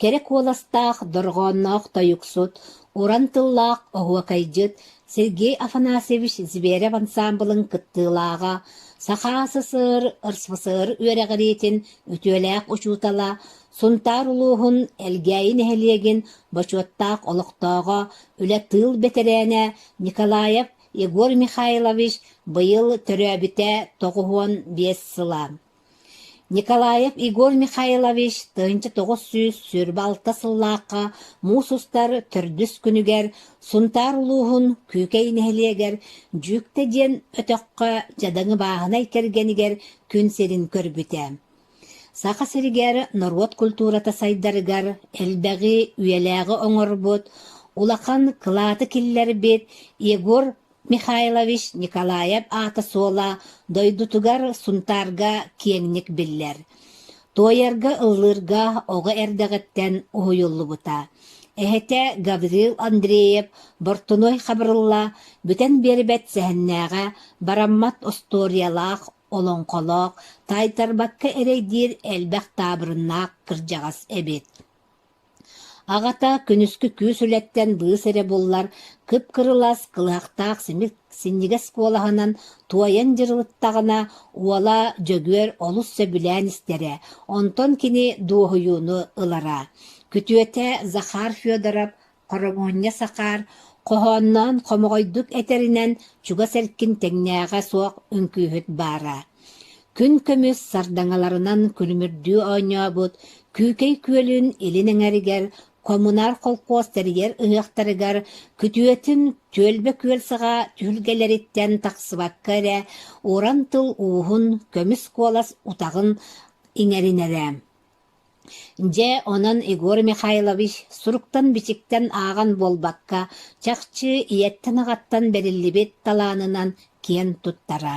Кэрэ куоластаах, дорҕоонноох тойуксут, уран тыллаах оһуокайдьыт Сергей Афанасьевич Зверев ансаамбылын кыттыылааҕа, Саха СССР РСФСР үөрэҕириитин үтүөлээх учуутала, Сунтаар улууһун Элгээйи нэһилиэгин бочуоттаах олохтооҕо, үлэ тыыл бэтэрээнэ Николаев Егор Михайлович быйыл төрөөбүтэ тоҕус уон биэс сыла. Николаев Игорь Михайлович тыһыынча тоҕус сүүс сүүрбэ алта сыллаахха муус устар төрдүс күнүгэр Сунтаар улууһун Күүкэй нэһилиэгэр Дьүүктэ диэн өтөххө дьадаҥы бааһынай кэргэнигэр күн сирин көрбүтэ. Саха сиригэр норуот культурата сайдарыгар элбэҕи үйэлээҕи оҥорбут, улахан кылааты киллэрбит Егор Михайлович Николаев аата-суола дойдутугар Сунтаарга киэҥник биллэр. Туойарга-ыллыырга оҕо эрдэҕиттэн уһуйуллубута. Эһэтэ Гаврил Андреев Бортунуой Хабырылла бүтэн биэрбэт сэһэннээҕэ, бараммат остуоруйалаах, олоҥхолоох, таайтарбакка эрэйдиир элбэх таабырыннаах кырдьаҕас эбит. Аҕата күнүскү күүс үлэттэн быыс эрэ буллар кып-кырылас, кылыһахтаах синньигэс куолаһынан туойан дьырылыттаҕына, уола Дьөгүөр олус сөбүлээн истэрэ, онтон кини дуоһуйууну ылара. Күтүөтэ Захар Федоров хоромоонньа сакаар хоһоонноон хомоҕойдук этэринэн, чугас эркин тэҥнээҕэ суох үҥкүүһүт баара Күн көмүс сардаҥаларынан күлүмүрдүү оонньообут Күүкэй күөлүн илин эҥэригэр, хомунаар холкуос тэрийэр ыһыахтарыгар күтүөтүн Түөлбэ күөлсаҕа түһүлгэлэриттэн тахсыбакка эрэ уран тыл ууһун көмүс куолас утаҕын иҥэринэрэ Дьэ, онон Егор Михайлович суруктан-бичиктэн ааҕан буолбакка, чахчы ийэттэн-аҕаттан бэриллибит талаанынан киэн туттара.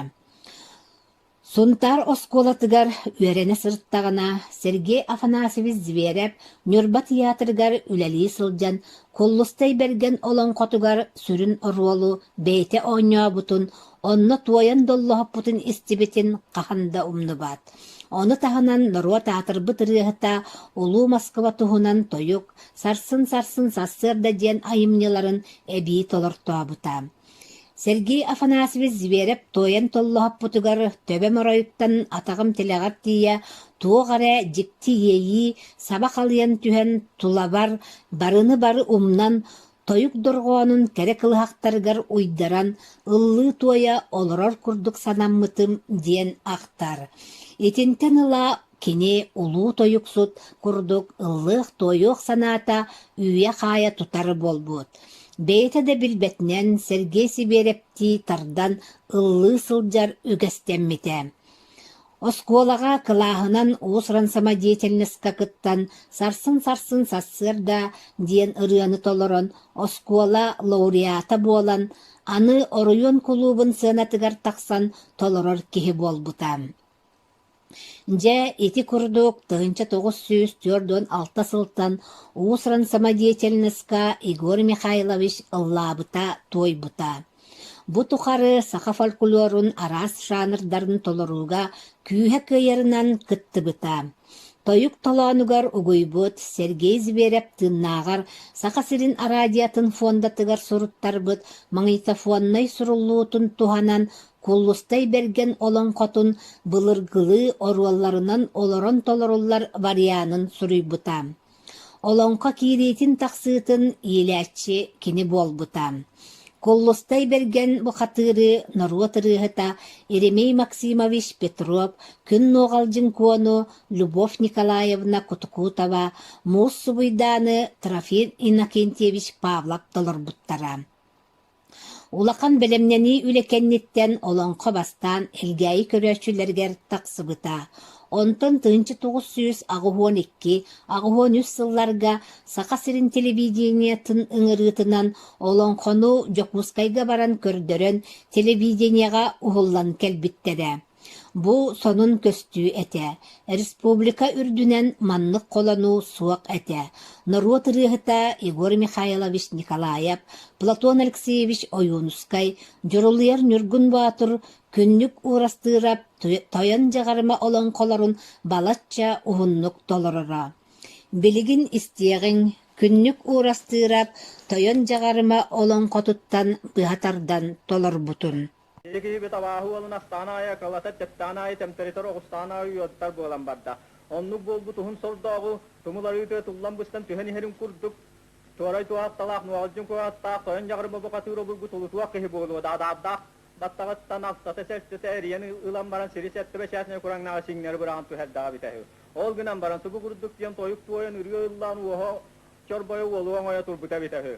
Сунтаар оскуолатыгар үөрэнэ сырыттаҕына, Сергей Афанасьевич Зверев Ньурба тыйаатырыгар үлэлии сылдьан, Куллустай Бэргэн олоҥхотугар сүрүн оруолу бэйэтэ оонньообутун, онно туойан доллоһуппутун истибитин хаһан да умнубат. Ону таһынан норуот аатырбыт ырыаһыта Улуу Москва туһунан тойук «Сарсын-сарсын сарсыарда» диэн айымньыларын эбии толортообута. Сергей Афанасьевич Зверев туойан толлоһоппутугар төбөм оройуттан атаҕым тилэҕэр тиийэ туох эрэ дьикти иэйии саба халыйан түһэн тулабар барыны бары умнан Тойук дорҕоонун кэрэ кылыһахтарыгар уйдаран ыллыы-туойа олорор курдук санаммытым диэн ахтар. Итинтэн ыла кини улуу тойуксут курдук ыллыах-туойуох санаата үүйэ-хаайа тутар буолбут. Бэйэтэ да билбэтинэн Сергей Сибирэптии тардан ыллыы сылдьар үгэстэммитэ. Оскуолаҕа кылааһынан уус-уран самодеятельноска кыттан сарсын-сарсын сарсыарда диэн ырыаны толорон, оскуола лауреата буолан, аны оройуон кулуубун сыанатыгар тахсан толорор киһи буолбута. Дьэ, ити курдук тыһыынча тоҕус сүүс түөрт уон алта сылтан уус-уран самодеятельноска Егор Михайлович ыллаабыта-туойбута. Бу тухары саха фольклорун араас жанрдарын толорууга күүһэ кыайарынан кыттыбыта. Тойук толоонугар угуйбут Сергей Зверев тыыннааҕар Саха сирин араадьыйатын фондатыгар суруттарбыт магнитофоннай суруллуутун туһанан Куллустай Бэргэн олоҥхотун былыргылыы оруолларынан олорон толоруллар варианын суруйбута. Олоҥхо киириитин тахсыытын иилээччи кини буолбута. Куллустай Бэргэн бухатыырыы норуот ырыаһыта Еремей Максимович Петров, Күн Нуоҕалдьын Куону, Любовь Николаевна Кутукутова, Муус Субуйдааны, Трофим Иннокентьевич Павлов толорбуттара. Улахан бэлэмнэнии үлэ кэнниттэн олоҥхо бастаан Элгээйи көрөөччүлэригэр тахсыбыта, онтон тыһыынча тоҕус сүүс аҕыһыан икки аҕыһыан үс сылларга Саха сирин телевидениетин ыҥырыытынан олоҥхону Дьокуускайга баран көрдөрөн телевидениеҕэ уһуллан кэлбиттэрэ. Бу сонун көстүү этэ, республика үрдүнэн маннык холонуу суох этэ, норуот ырыаһыта Егор Михайлович Николаев, Платон Алексеевич Ойуунускай, дьурулуйар Ньургун Боотур, Күннүк Уурастыырап Тойон Дьаҕарыма олоҥхолорун балачча уһуннук толороро. Билигин истиэҕиҥ, Күннүк Уурастыырап Тойон Дьаҕарыма олоҥхотуттан быһа тардан толорбутун Ити киһибит абааһы уолун астаан аайы, кылата тэптээн аайы, тэмтэритэр оҕустаан аайы уйуоттар буолан барда. Оннук буолбут уһун сордооҕу, тумул арыытыгар туллан быстан түһэн иһэрин курдук, туорай туо атталаах, нуоҕалдьын куо аттаах, тойон дьаҕарым обукатыыр обургу тулутуох киһи буолуо да, адаардаах баттаҕыттан ахсата-сэрсэтэ эрийэн ылан баран сири сэттэ бэчээсинэй кураҥнааҕы сиҥнэри быраҕан туһэрдэҕэ эбитэ үһү. Ол гынан баран субу курдук диэн тойук туойан ырыа ыллаан уоһа чорбойо уолу оҥойо турбута эбитэ үһү.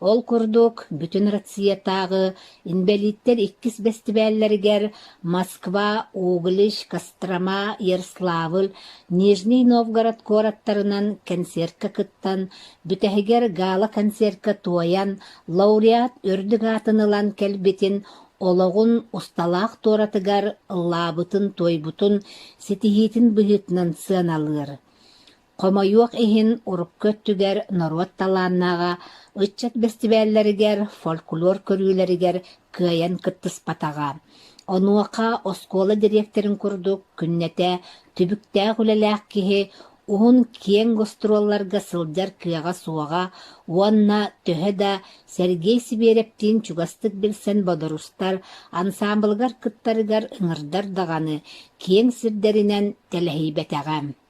Ол курдук, бүтүн Россиятааҕы инбэлииттэр иккис бэстибээллэригэр Москва, Углич, Кострома, Ярославль, Нижний Новгород куораттарынан кэнсиэркэ кыттан, бүтэһигэр гала-концертка туойан, лауреат үрдүк аатын ылан кэлбитин, олоҕун усталаах туоратыгар ыллаабытын-туойбутун ситиһиитин быһыытынан сыаналыыр. Хомойуох иһин, урукку өттүгэр норуот талааннааҕа ыччат бэстибээллэригэр, фольклор көрүүлэригэр кыайан кыттыспатаҕа. Онуоха оскуола дириэктэрин курдук күннэтэ түбүктээх үлэлээх киһи уһун киэҥ гастролларга сылдьар кыаҕа суоҕа уонна төһө да Сергей Сибирэптиин чугастык билсэн бодорустар, ансаамбылыгар кыттарыгар ыҥырдар даҕаны, киэҥ сирдэринэн тэлэһийбэтэҕэ.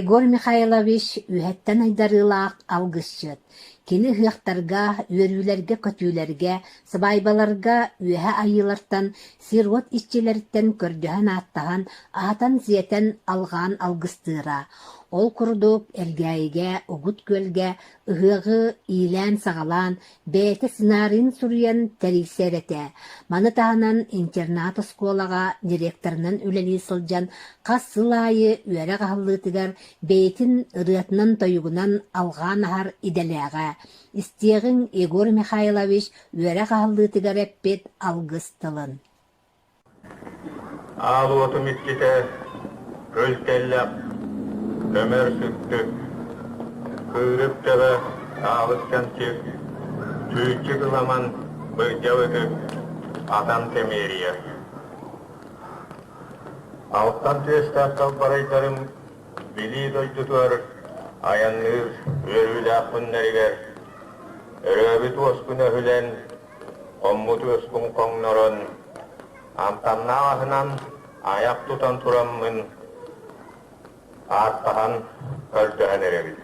Егор Михайлович үһэттэн айдарыылаах алгысчыт. Кини ыһыахтарга, үөрүүлэргэ-көтүүлэргэ, сыбаайбаларга үөһэ айыылартан, сир-уот иччилэриттэн көрдөһөн-ааттаһан, аһатан-сиэтэн, алҕаан алгыстыыра. Ол курдук Элгээйигэ, Угут Күөлгэ, Ыһыаҕы иилээн-саҕалаан, бэйэтэ сценарийын суруйан тэрийсэр этэ. Маны таһынан интернат-оскуолаҕа директорынан үлэлии сылдьан, хас сыл аайы үөрэх аһыллыытыгар бэйэтин ырыатынан-тойугунан алҕаан аһар идэлээҕэ. Истиэҕиҥ Егор Михайлович үөрэх аһыллыытыгар эппит алгыс тылын Аал уотум иччитэ кыл тэллэх, көмөр сүктүк, кыырык төбө, хаалыс кэмчик, чүүччүк ыламан, былдьал ытык, атан кэмиэрийэр. Алтан түөстээх халбарайдарым билии дойдутугар айанныыр үөрүүлээх күннэригэр, өрөөбүт уоскуна өһүлэн, хоммут-үөспун хоҥнорон, амтаннаах аһынан айах тутан тураммын, ааттаһан, көрдөһөн эрэбин.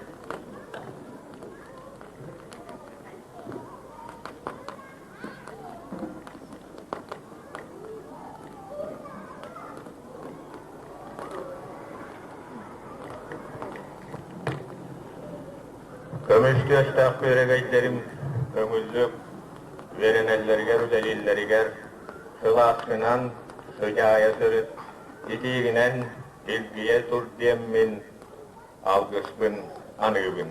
Көмүскүөстээх күөрэгэйдэрим көҥүллүк үөрэнэллэригэр үлэлииллэригэр сылааскынан, сыдьаайа сырыт, итиигинэн илгийэ тур диэммин, алгыспын аныыбын.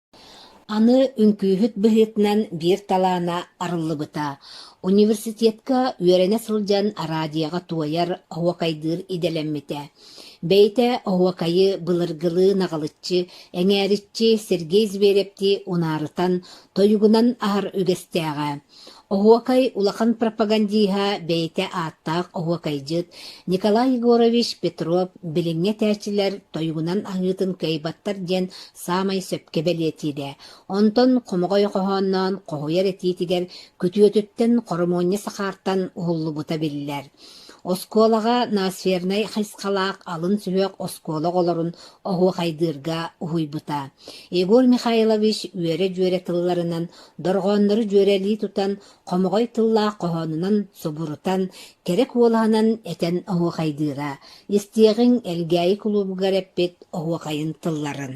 Аны үҥкүүһүт быһыытынан биир талаана арыллыбыта: университетка үөрэнэ сылдьан араадьыйаҕа туойар оһуокайдыыр идэлэммитэ. Бэйэтэ оһуокайы былыргылыы наҕылыччы, эҥээриччи Сергей Зверевти унаарытан, тойугунан аһар үгэстээҕэ. Оһуокай улахан пропагандиһа, бэйэтэ ааттаах оһуокайдьыт Николай Егорович Петров билиҥҥи этээччилэр тойугунан аһыытын кыайбаттар диэн саамай сөпкө бэлиэтиирэ, онтон хомоҕой хоһоонноон хоһуйар этиитигэр күтүөтүттэн хормуонньа сакаартан уһуллубута биллэр. Оскуолаҕа Носфернай хайысхалаах алын сүһүөх оскуола оҕолорун оһуохайдыырга уһуйбута. Егор Михайлович үөрэ-дьүөрэ тылларынан дорҕооннору дьүөрэлии тутан, хомоҕой тыллаах хоһоонунан субурутан, кэрэ куолаһынан этэн оһуохайдыыра, истиэҕиҥ Элгээйи кулуубугар эппит оһуохайын тылларын.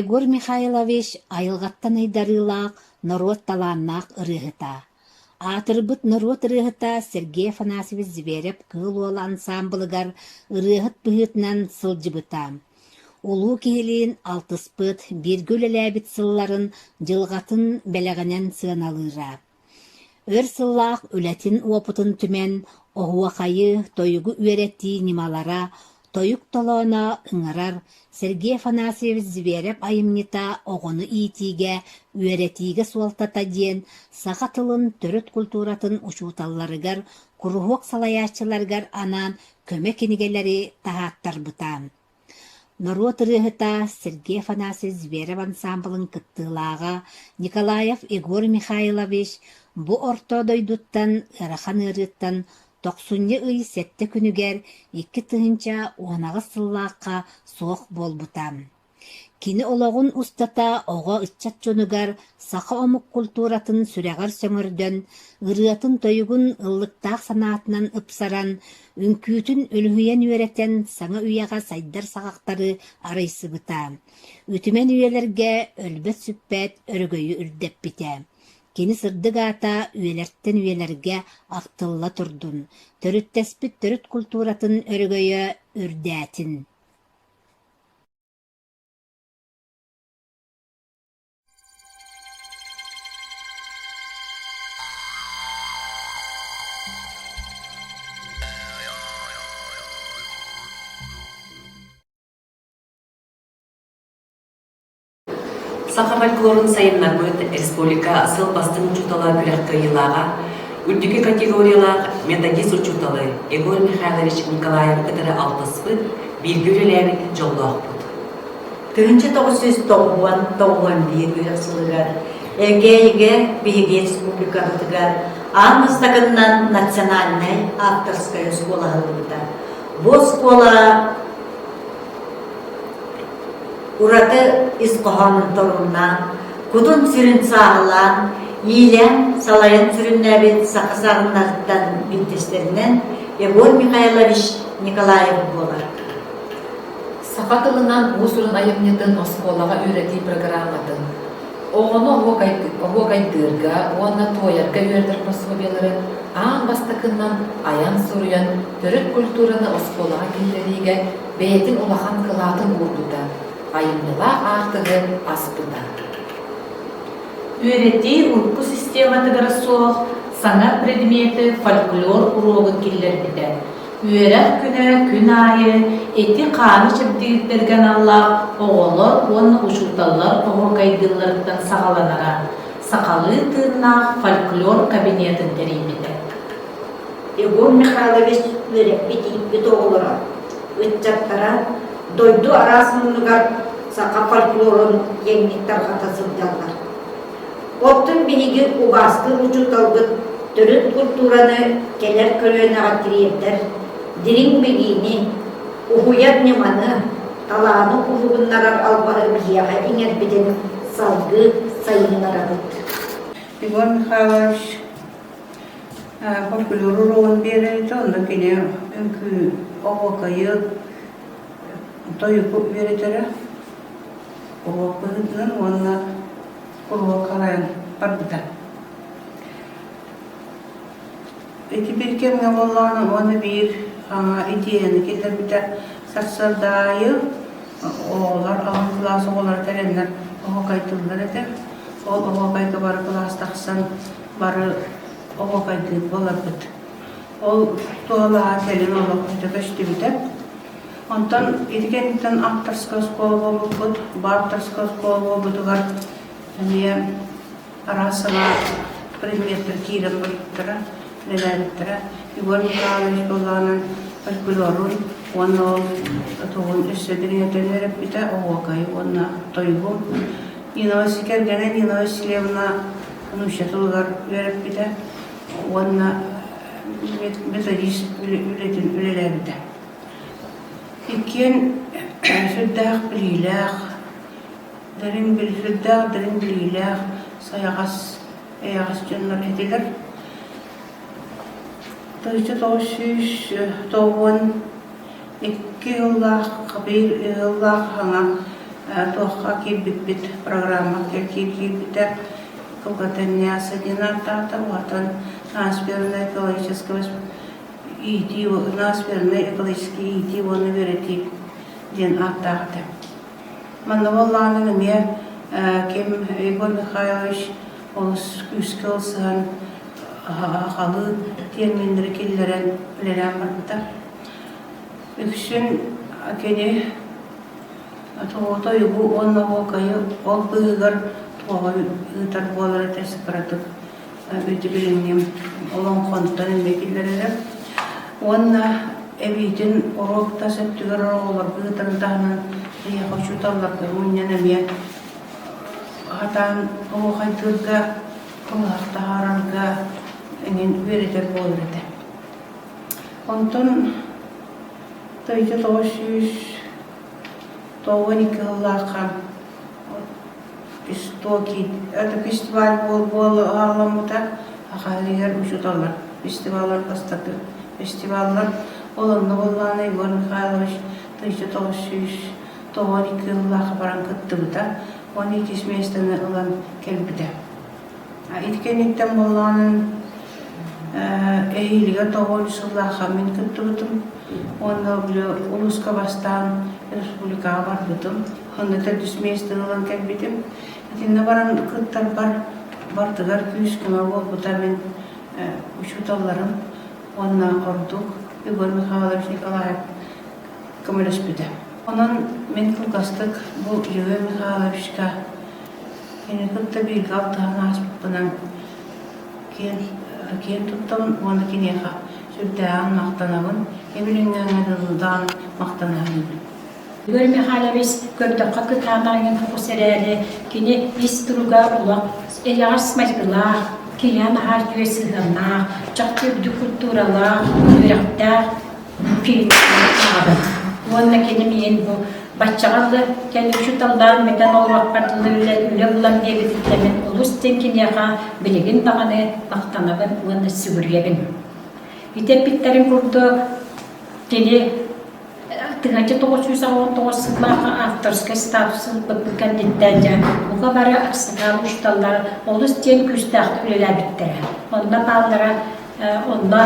Егор Михайлович айылҕаттан айдарыылаах, норуот талааннаах ырыаһыта. Аатырбыт норуот ырыаһыта Сергей Афанасьевич Зверев-Кыыл Уол ансаамбылыгар ырыаһыт быһыытынан сылдьыбыта. Улуу киһилиин алтыспыт, бииргэ үлэлээбит сылларын, дьылҕатын бэлэҕинэн сыаналыыра. Өр сыллаах үлэтин-уопутун түмэн, оһуохайы, тойугу үөрэтии ньымалара, тойук толооно ыҥырар Сергей Афанасьевич Зверев айымньыта оҕону иитиигэ, үөрэтиигэ суолтата диэн саха тылын, төрүт култууратын учууталларыгар, куруһуок салайааччыларыгар анаан көмө кинигэлэри таһааттарбыта. Норуот ырыаһыта Сергей Афанасьевич Зверев ансаамбылын кыттыылааҕа Николаев Егор Михайлович бу орто дойдуттан ыарахан ыарыыттан тохсунньу ый сэттэ күнүгэр икки тыһыынча уонаҕыс сыллаахха суох буолбута. Кини олоҕун устата оҕо-ыччат дьонугар саха омук культуратын сүрэҕэр сөҥөрдөн, ырыатын-тойугун ыллыктаах санаатынан ыпсаран, Үҥкүүтүн үлүһүйэн үөрэтэн, саҥа үйэҕэ сайдар саҕахтары арыйсыбыта. Үтүмэн үйэлэргэ өлбөт-сүппэт өрөгөйү үрдэппитэ. Кини сырдык аата үйэлэртэн үйэлэргэ ахтылла турдун, төрүттэспит төрүт култууратын өрөгөйө үрдээтин. Саха фольклорун сайыннарбыт республика сыл бастыҥ учуутала күрэх кыайыылааҕа, үрдүкү категориялаах методист учууталы Игорь Михайлович Николаев кытары алтыспыт, бииргэ үлэлээбит дьоллоохпут. Тыһыынча тоҕус сүүс тоҕуһуон тоҕуһуон биир үөрэх сылыгар Эгейгэ биһиги республикабытыгар аан бастакыннан национальнай авторскай оскуола аһыллыбыта. Бу оскуола ураты ис хоһоонун торуннаан, кутун-сүрүн сааһылаан, иилээн, салайан сүрүннээбит саха саҕыннарыттан биттэстэринэн Егор Михайлович Николаев буолар. Саха тылынан уус-уран айымньытын оскуолаҕа үөрэтии программатын оҕону оһуокайдыырга уонна туойарга үөрэтэр пособиелары аан бастакынан айан-суруйан төрүт культураны оскуолаҕа киллэриигэ бэйэтин улахан кылаатын уурбута, айымньылаах аартыгы аспыта. Үөрэтии урку систематыгар суох саҥа предмети фольклор уруогун киллэрбитэ. Үөрэх күнэ күн аайы ити хааны чэбдигирдэргэ аналлаах оҕолор уонна учууталлар оһуокайдыылларыттан саҕаланара сахалыы тыыннаах фольклор кабинетын тэрийбитэ. Егор Михайлович үөрэппит ииппит оҕолоро, ыччаттара дойду араас муннугар саха фольклорун киэҥник тарҕата сылдьаллар. Оттон биһиги убаастыыр учууталбыт төрүт култуураны кэлэр көлүөнэҕэ тириэрдэр дириҥ билиини, уһуйар ньыманы, талааны уһугуннарар албаһы биһиэхэ иҥэрбитин салгыы сайыннарабыт. Иван Михайлович фольклор уруогун биэрэритэ, онно кини үҥкүү, оһуокайы, тойуку үөрэтэрэ. уруокпутутун уонна уруокалаан барбыта. Ити bir кэмҥэ буоллаҕына уонна биир идиэйэни киллэрбитэ сарсыардаайы оҕолор алын кылаас оҕолоро кэлэннэр оһуокайтыллар этэ. Ол оһуокайга бары кылаас тахсан бары оһуокайдыыр боларбыт. Ол туһалааҕа кэлин олох өтө көстүбүтэ. Онтон ити кэнниттэн авторскай оскуола буолбуппут. Бу авторскай оскуола буолбутугар эмиэ араас саҥа предметтэр киирэн барбыттара, нэлээбиттэрэ. Егор Михайлович былаанын фольклорун уонна ол тугун өссө дириҥэтэн өрөппүтэ оһуокай уонна тойугум. Нинова кэргэнэ Нинова Селевна нуучча тылыгар үөрэппитэ уонна методист үлэтин үлэлээбитэ. Иккиэн сүрдээх билиилээх, дириҥ сүрдээх дириҥ билиилээх, сайаҕас, эйэҕэс дьоннор этилэр. Тыйса тоҕус сүүс тоҕус уон икки сыллаах биир сыллаах аһаҥа туохха киирбиппит программаҕа киирбитэ Кулгатанья Садина Тата уотан Транспирно-экологического иитии, ылаас фермер экологический иитии уонна үөрэтии диэн ааттаахтар. Манна буоллаҕына эмиэ ким Егор Михайлович олус күүскэ ылсан халыы терминнэри киллэрэн үлэлээн барбыта. Үксүн кини тоҕо уонна оһуокайы ол быыһыгар тоҕо ыытар буолара тэс кыратык билиҥҥим олоҥхонтон эмиэ киллэрэрим уонна эбиитин уруок тас өттүгэр оҕолорго ыытан таһынан эйиэхэ учууталларга мунньан эмиэ хатаан оһуохайдыырга ылах таһаарарга эҥин үөрэтэр буолар этэ онтон тойто тоҕо сүүс тоҕуон икки сыллаахха Истоки Ытык фестиваль буола аһаалламмыта ахаһыгар учууталлар фестиваллар бастакы фестиваллар олонно буоллаҕына Егор Михайлович тыйса тоҕус сүүс тоҕо икки сыллаах баран кыттыбыта уонна иккис миэстэни ылан кэлбитэ ити кэнниттэн буоллаҕына эһиилигэр тоҕус сыллаахха мин кыттыбытым уонна били улууска бастаан республикаҕа барбытым Хоннуттан түс миэстэн ылан кэлбитим. Итиннэ баран кыттарбар бардыгар күүс-көмө буолбута мин учууталларым уонна ордук Егор Михайлович Николаев көмөлөспүтэ. Онон мин кылгастык бу Егор Михайловичка кини кытта бииргэ алтыһан ааспыппынан киэн киэн туттабын уонна киниэхэ сүрдээҕин махтанабын, имилиҥҥэҥҥэ дылдаан махтана саныыбын. Игорь Михайлович, көрдөххө кытаанах иҥин фокус эрээри, кини ис туруга олох эйэҕэс майгылаах, киэһэ наһаа үтүө сыһыаннаах, чахчы үрдүк культуралаах, үөрэхтээх киһитинэн аҕабын. Уонна киним иһин бу баччаҕа дылы кэлин учууталлаан мэтэн олоруохпар дылы үлэ үлэ ыллам диэбититтэн олус диэн киниэхэ билигин даҕаны махтанабын уонна сүгүрүйэбин. Ити эппиттэрин курдук кини Тыһыынча тоҕус сүүс аҕыс тоҕус сыллааҕы авторскай статус ылбыппыт кэнниттэн дьэ бука бары аксакаал учууталлар олус диэн күүстээхтик үлэлээбиттэрэ. Онно бааллара онно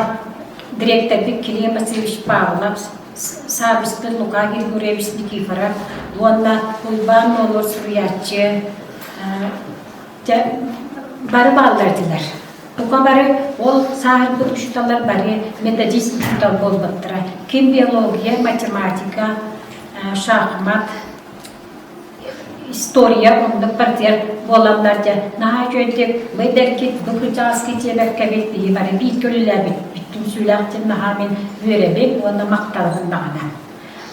дириэктэрбит Кирилл Васильевич Павлов, саабыспыт Лука Григорьевич Никифоров уонна Уйбаан Нолуор суруйааччы Дьэ, бары бааллардылар. Бука бары ол сааһырбыт учууталлар бары методист учуутал буолбуттара. Ким биология, математика, шахмат, история оннук партияр буолаллар дьэ наһаа үчүгэйдик бэйдэркит бу кырдьаҕаски дьиэбэккэбит киһи бары биир көрүлээбит бүттүн сүүлээхтин наһаа мин үөрэбин уонна махталбын баҕана.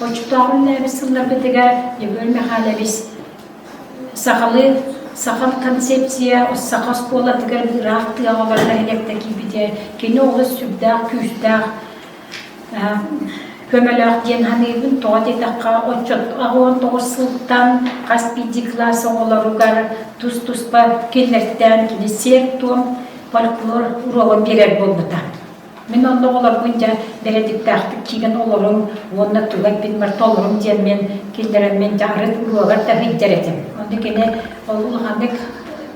Оччотооҕу үллээбит сылларбытыгар Егор Михайлович Сахалыы саха концепция саха оскуолатыгар ыраах тыаҕалар нэһилиэктэ киирбитэ кини олус сүрдээх күүстээх көмөлөөх диэн саныыбын тоҕо диэтэххэ отчут аҕыан тоҕус сылтан хас биирдии кылаас оҕолоругар тус-туспа кинилэртээн кини сиэр-туом фольклор уруогун биэрэр буолбута Мин онно оҕолорбун дьэ дэлэтиктээхтик киирэн олорум уонна тула эппитимэр толорум диэммин киллэрэммин дьэ арыт уруогар да сылдьар этим. Онно кини ол улаханнык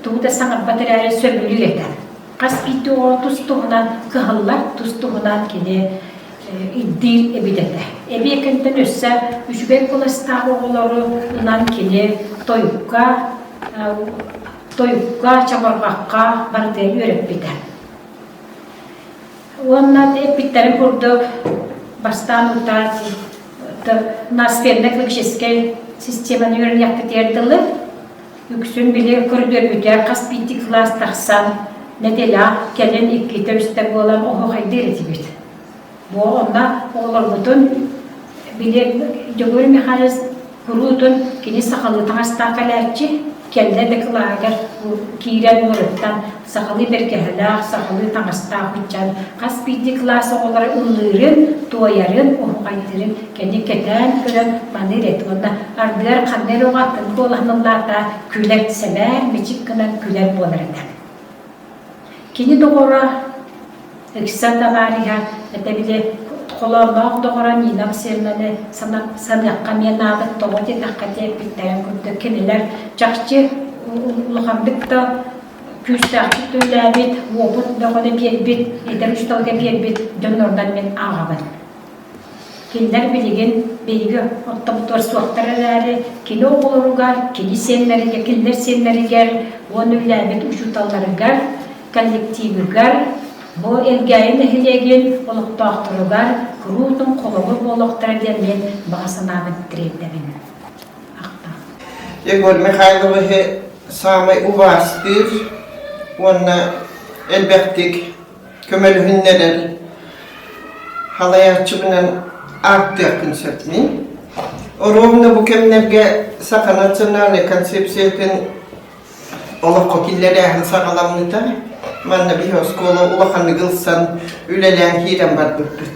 тугу да саҥарбат эрээри сөбүлүүр этэ. Хас биирдии оҕо тус туһунан кыһаллар, тус туһунан кини ирдиир эбит этэ. Эбиэкэнтэн өссө үчүгэй кыластаах оҕолору ынан кини тойукка, тойукка, чабарҕахха барытын үөрэппитэ. Уонна эппиттэрин курдук бастаан утаат наспенна клиническэй системаны үөрэнэхпитигэр дылы үксүн били көрдөрбүтэ хас биирдик кылаас тахсан нэдэлээх кэлин иккитэ үстэ буолан оһохайдыыр этибит Бу онно олорбутун билиэм Дьөгүөр Михайлович куруутун кини сахалыы таҥастаах кэлээччи кэннэ дакылааһыгар киирэн уларыттан сахалыы бэргэһэлээх, сахалыы таҥастаах ыччан хас биирдии кылаас оҕолоро ыллыырын, туойарын, уһуҕайдырын кини кэтээн көрөн маны ирет уонна ардыгар ханна эрэ атын буолаһын ыллаата күлэр сэмээр мичик гынан күлэр буолар этэ Кини доҕоро Икса Товариһа этэбилэ холоонноох доҕоро Нина Васильевнаны саныахха эмиэ наадык тоҕо диэтэххэ диэбиттэрин курдук кинилэр чахчы улаханнык да күүстээхтик төлөөбүт, уопут бөҕөнү биэрбит, итэр үсталга биэрбит дьоннорунан мин ааҕабын Кинилэр билигин биһиги оттохтуор суохтар эрээри, кини оҕолоругар, кини сиэннэригэр, кинилэр сиэннэригэр уонна үлээбит учууталларыгар, коллективыгар, бу Элгээйи нэһилиэгин олохтоохторугар куруутун холобур буолуохтара диэн мен баҕа санаабын тириэрдэбин. Егор Михайловиһы саамай убаастыыр уонна элбэхтик көмөлөһүннэрэр халайааччыбынан ааттыаххын сөпний оруобуна бу кэмнэргэ саха национальнай концепциятын олоххо киллэрээһин саҕаламмыта манна биһи оскуола улаханнык ылсан үлэлээн киирэн барбыппыт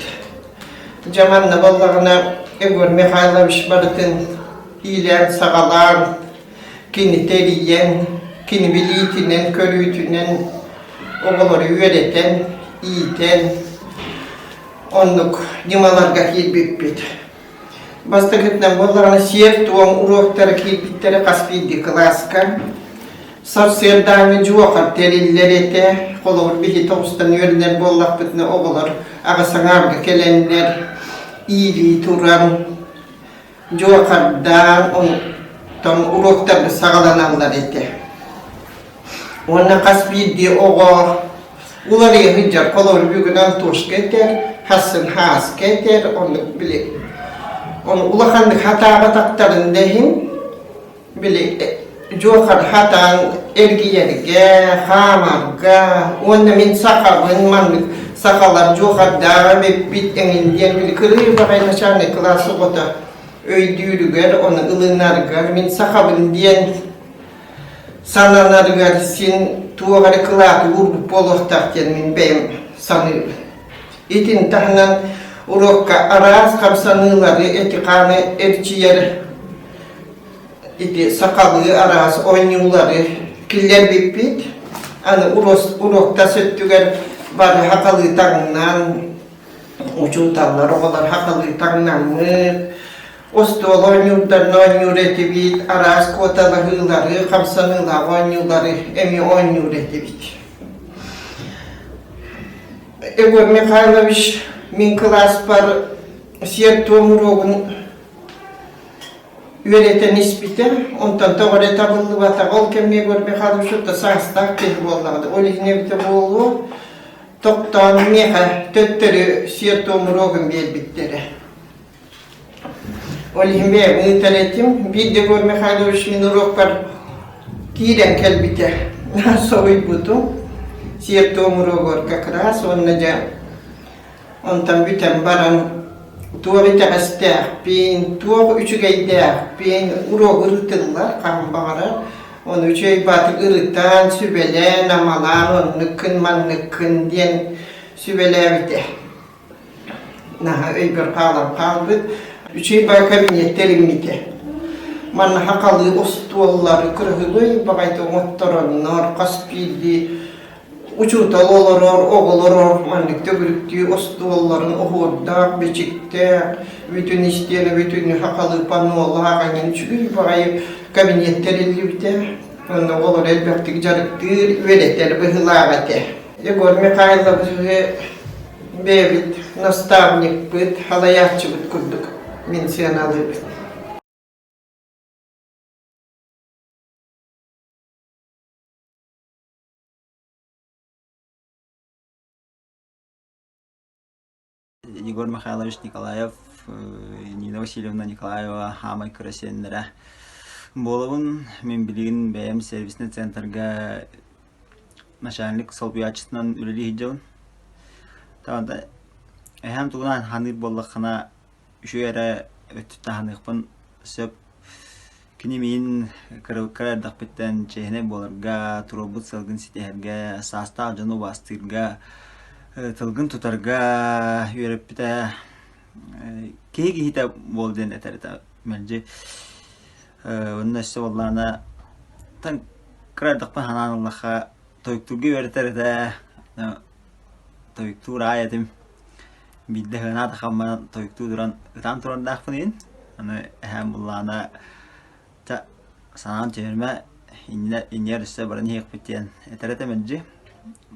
дьаманна баллагына Егор Михайлович барытын иилээн саҕалаан Кинини эрийэн, кини билиитинэн-көрүүтүнэн оҕолору үөрэтэн, иитэн, оннук ньымаларга киирбиппит. Бастакытынан буоллаҕына сиэр-туом уруоктара киирбиттэрэ хас биирдии кылааска. Сарсыардааҥы дьуохар тэриллэр этэ. Холобур, биһи оҕустан үөрэнэр буоллахпытына оҕолор аҕыс аҥаарга кэлэннэр иилии туран дьуохардаан оһуктан уруоктарга саҕаланаллар этэ. Уонна хас биирдии оҕо уларыйа сылдьар колор бүгүнэн тушка этэр, хассын хааска этэр, оннук били. Оны улаханнык хатаабатахтарын да иһин, Били дьуохар хатан эргийэргэ, хаамарга уонна мин сахабын маннык сахалар дьуохардааҕа эбиппит эҥин диэн били кырыый баҕай начальный кылаас оҕото өйдүүрүгэр, оны ылынаргар мин сахабын диэн сананарыгар син туох эрэ кылааты уурбут буолуохтаах диэн мин бэйэм саныырым. Итин таһынан уруокка араас хамсаныылары эти-хааны эрчийэр ити сахалыы араас оонньуулары киллэрбиппит аны уруоктас өттүгэр бары хахалыы таҥнан учууталлар оҕолор хахалыы таҥнаммыт остуол оонньуурдарына оонньуур этибит араас куоталаһыылары хамсаныылаах оонньуулары эми оонньуур этибит Егор Михайлович мин кылааспар сиэр-туом уруогун Үөрэтэн испитэ, онтон тоҕо эрэ табыллыбатаҕа, ол кэмигэр Михалычут да саастаах киһи буоллаҕа. Ол иһин эбитэ буолуо, тохтоон миэхэ төттөрү сиэр-туомуруогун биэрбиттэрэ. Ол иһин бэйэбин ыытар этим. Биир да Егор Михайлович мин уруокпар киирэн кэлбитэ. Соһуйбутум. Сиэр-туом уруогор как раз уонна дьэ Онтон бүтэн баран туох итэҕэстээхпин, туох үчүгэйдээхпин уруогу ырытыллар хаһан баҕарар. Оны үчүгэй баатык ырытан, сүбэлээн, амалаан оннуккун-манныккын диэн сүбэлээбитэ. Наһаа өйбөр хаалан хаалбыт. Үчүгэй баа кабинеттэр иммитэ. Манна хахалыы остуоллары кыраһылый баҕайыта оҥоттороннор, хас биирдии Учуутал олорор, оҕолоро маннык төгүрүктүү остуолларын оһуордаах, бичиктээх, бүтүн истиэнэ, бүтүн хахалыпаноолаах эҥин үчүгэй баҕайы кабинет тэриллибитэ. Онно оҕолор элбэхтик дьарыктыыр, үөрэтэр быһыылаах этэ. Егор Михайловиһы бэйэбит наставникпыт, халайааччыбыт курдук мин сыаналыыбын. Егор Михайлович Николаев, Нина Васильевна Николаева хаамай кыра сиэннэрэ. Буолабын, мин билигин бэйэм сервисный центрга начальник солбуйааччытынан үлэлии сылдьабын. Таата эһэм тугунан ханыыр буоллаххына үчүгэй эрэ өттүн таһаныахпын сөп. Кини миин кыра эрдэхпиттэн чээһинэй буоларга, туруорбут сылгын ситиһэргэ, саастаах дьону убаастыырга, тылгын тутарга үөрэппитэ. Киһи киһитэ буол диэн этэр этэ мэлдьи. Онно өссө буоллаҕына кыра эрдэхпин санаан ыллахха тойуктуурга үөрэтэр этэ. Тойуктуур аайы этим. биирдэ сыанаат хаммынан тойуктуу туран ытаан турардаахпын иһин аны эһээм буллаана та санаан түһэрмэ иннинэ иннигэр өссө баран иһиэхпит диэн этэрэ да мэлдьи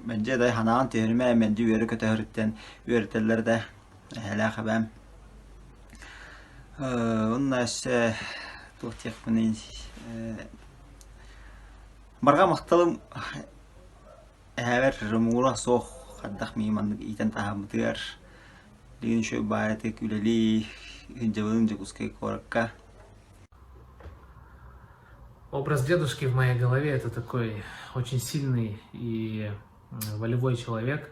мэлдьи да санаан түһэрмэ мэлдьи үөрэ көтө сырыттан үөрэтэллэр да эһэлээх эбээм онно өссө туох диэхпиний барҕа махталым Эһэбэр Ромура суох, хайдах миигин маннык иитэн таһаарбытыгар билигин үчүгэй баайатык үлэлии дьабылын Дьокуускай куоракка Образ дедушки в моей голове — это такой очень сильный и волевой человек,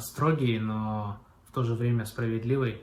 строгий, но в то же время справедливый.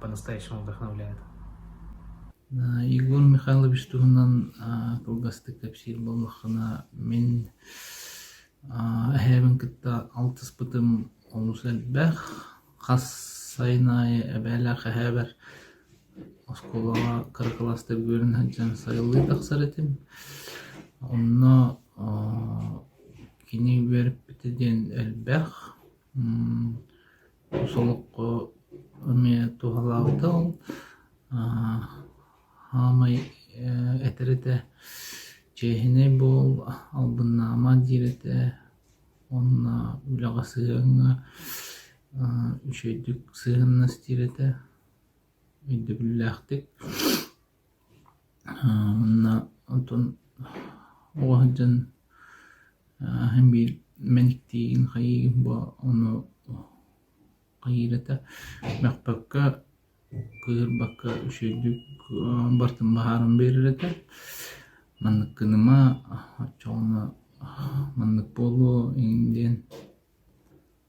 по-настоящему вдохновляет. Егор Михайлович туһунан кылгастык кэпсиир буоллаххына, мин эһээбин кытта алтыспытым олус элбэх. Хас сайын аайы эбээлээх эһээбэр оскуолаҕа кыра кылаастар үөрэнэ сылдьан сайылыы тахсар этим. Онно кини үөрэппитэ диэн элбэх. Солоххо эмиэ туһалаабыта ол аамай этэр этэ чиэһинэй буол албыннаама диир этэ уонна үлэҕэ сыһыаҥҥа үчүгэйдик сыһыаннас диир этэ өйдөбүллээхтик Уонна отон оҕо сылдьан аһын биир мэниктиигин хайыыгын бо ону хайыырата мөхпөккө кыырбакка үчүгэйдик бартын баһаарын биэрэр этэ. Манныккыныма оччоҕуна маннык буолуо иҥин диэн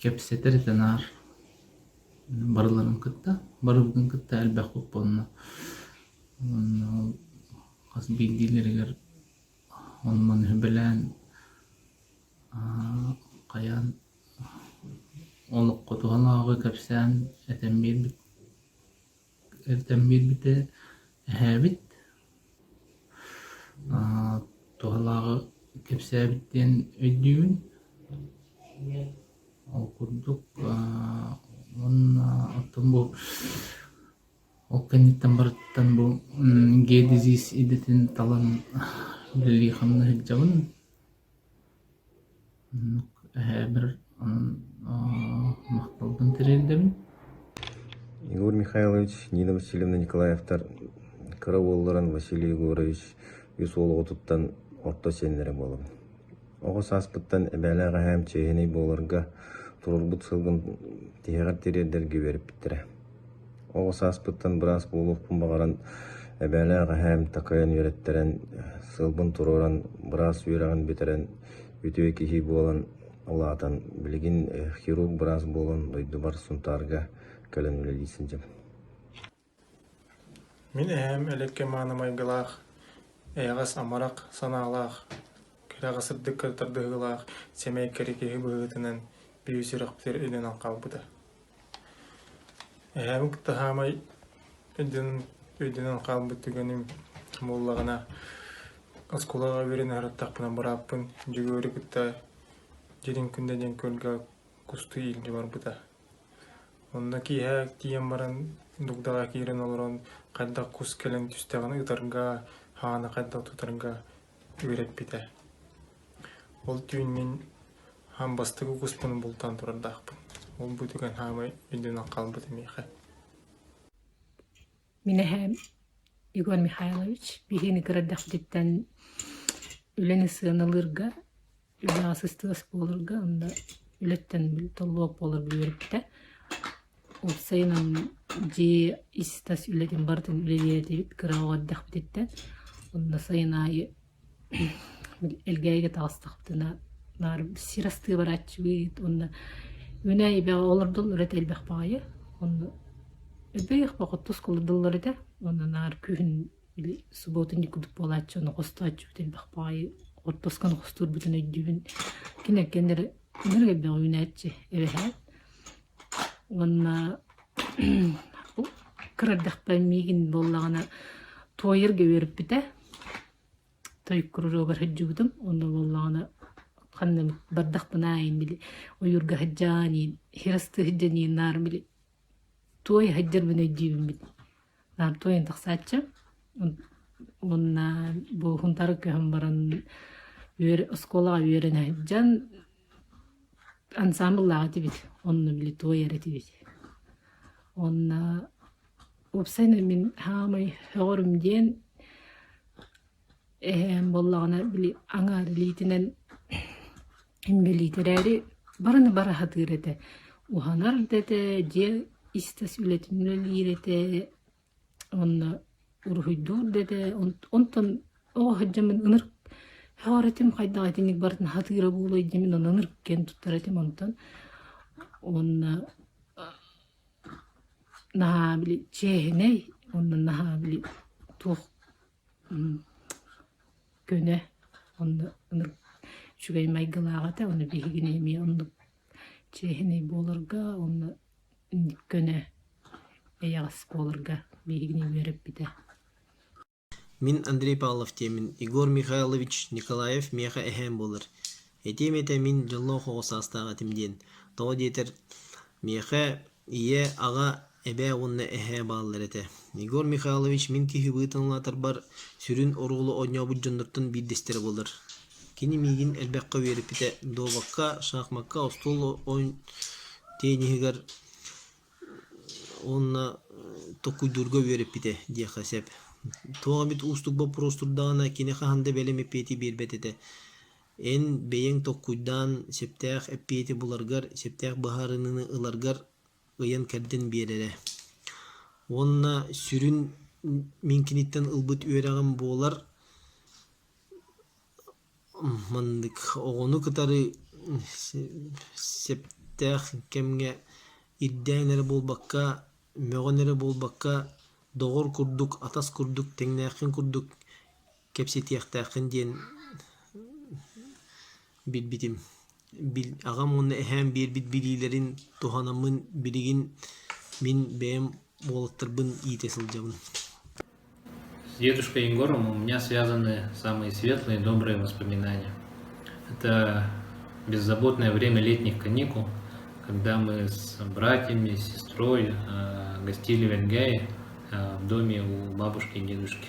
кэпсэтэр этэ наар барыларын кытта барыбытын кытта элбэх боппуонна уонна хас биирдиилэригэр ону маны сүбэлээн хайаан олоххо туһанааҕы кэпсээн этэн биэрбит эртэн биэрбитэ эһээбит туһалааҕы кэпсээбит диэн өйдүүбүн. Ол курдук уонна оттон бу ол кэнниттэн барытыттан бу гэ дизиис идэтин талан үлэлии-хамна сылдьабын. Оннук эһэбэр махталбын тириэрдэбин. Егор Михайлович, Нина Васильевна Николаевтар кыра уолларын Василий Егорович үс уол оҕотуттан орто сиэннэрэ буолабын. Оҕо сааспыттан эбээлээх эһээм чиэһинэй буоларга, туруорбут сылгын тиһэҕэр тириэрдэргэ үөрэппиттэрэ. Оҕо сааспыттан быраас буолуохпун баҕаран эбээлээх эһээм такайан үөрэттэрэн, сылбын туруоран, быраас үөрэҕин бүтэрэн, үтүө киһи буолан улаатан, билигин хирург быраас буолан дойдубар Сунтаарга кэлэн үлэлии сылдьабын. Мин эһээм элэккэ мааны майгылаах, эйэҕэс амарах санаалаах, кэрэҕэ сырдык тардыһыылаах, сэмэй кэри киһи быһыытынан, биир сүрэхпитигэр илинэн хаалбыта Эһээм кытта саамай өйдөнөн хаалбыт түгэним буоллаҕына, оскуолаҕа үөрэнэ сырыттахпына бырааппын Дьөгүөрү кытта дьиэтин күндэ диэн күөлгэ кустуу иилдьэ барбыта. Онно киэһэ тиийэн баран дугдаҕа киирэн олорон хайдах кус кэлэн түстэҕин ытарга, хааны хайдах тутарга үөрэппитэ. Ол түүн мин хаан бастакы укуспун бултаан турардаахпын. Ол бу түгэн хаамай үрдүнэн хаалбыт миэхэ. Мин эһээм Егор Михайлович биһигини кыра эрдэхпититтэн үлэни сыаналыырга Үбүлээссистибэ оскуолаларга анда үлэттэн толлубат буолар үөрэппитэ. Ол сайынан дьиэ ис-тас үлэтин барытын үлэлиэтибит кыраҕа эрдэхпититтэн. Онно сайын аайы элгээйигэ таҕыстахпытына баары сир астыы барааччыбыт уонна мэнээ эбэҕэ олордон ырыт элбэх баҕайы. Онно өбүгэлэр хоту оскуолаларда олордоллор этэ. Онно наар күһүн Били субуотунньук курдук буолааччы, ону хостооччубут элбэх баҕайы отпусканы хостуурбутун өйдүүбүн. Киниттэн эрэ ынырык элбэх үүнээччи эбэһээт. Уонна кыра эрдэхпэ миигин буоллаҕына туойарга үөрэппитэ. Той куруруогар сылдьыбытым. Онно буоллаҕына ханна бардахпын аайын били ойуурга сылдьаан иин, иһи астыы сылдьан иин наар били Туой сылдьарбын өйдүүбүммүт наам туойун тахсааччы уонна буохунтары көһөн баран үөр оскуолаҕа үөрэнэ сылдьан ансаамбыллаах этибит онно били туой эрэ этибит уонна уопсайынан мин саамай сөҕөрүм диэн эһээм буоллаҕына били аҥаар илиитинэн Инбэлиит эрээри барыны бара сатыыр этэ, уһанар да этэ, дьиэ ис-тас үлэтин үлэлиир этэ, уонна уруһуйдуур да этэ. Онтон оҕо сылдьаммын ынырык сөҕөр этим, хайдах итинник барытын сатыыра буолуой дии мин онно ынырык туттар этим онтон. Уонна наһаа били чээһинэй, уонна наһаа били туох көнө онно үчүгэй майгылаах этэ ону биһигини эмиэ оннук чиэһинэй буоларга уонна көнө эйэҕэс буоларга биһигини үөрэппитэ мин Андрей Павлов диэмин Егор Михайлович Николаев миэхэ эһээм буолар этиэм этэ мин дьоллоох оҕо саастаах этим диэн тоҕо диэтэр миэхэ Ийэ, аҕа, эбээ уонна эһээ бааллар этэ. Егор Михайлович мин киһи-быһыы таҥылаатарбар сүрүн оруолу оонньообут дьоннортон биирдэстэрэ буолар. Кини миигин элбэххэ үөрэппитэ. Дуобакка, шахмакка, остуол оон тенниһигэр уонна токуйдуурга үөрэппитэ диэххэ сөп. Туох эмит уустук боппуруос турдаҕына кини хаһан да бэлэм эппиэти биэрбэт этэ. Эн бэйэҥ толкуйдаан сөптөөх эппиэти буларгар, сөптөөх быһаарыныыны ыларгар ыйан-кэрдэн биэрэрэ. Уонна сүрүн мин киниттэн ылбыт үөрэҕим буолар маннык оҕону кытары сөптөөх кэмҥэ ирдээн эрэ буолбакка, мөҕөн эрэ буолбакка, доҕор курдук, атас курдук, тэҥнээххин курдук кэпсэтиэхтээххин диэн билбитим. Бил, аҕам уонна эһээм биэрбит билиилэрин туһанаммын билигин мин бэйэм уолаттарбын иитэ сылдьабын. С дедушкой Егором у меня связаны самые светлые и добрые воспоминания. Это беззаботное время летних каникул, когда мы с братьями, сестрой гостили в Энгее в доме у бабушки и дедушки.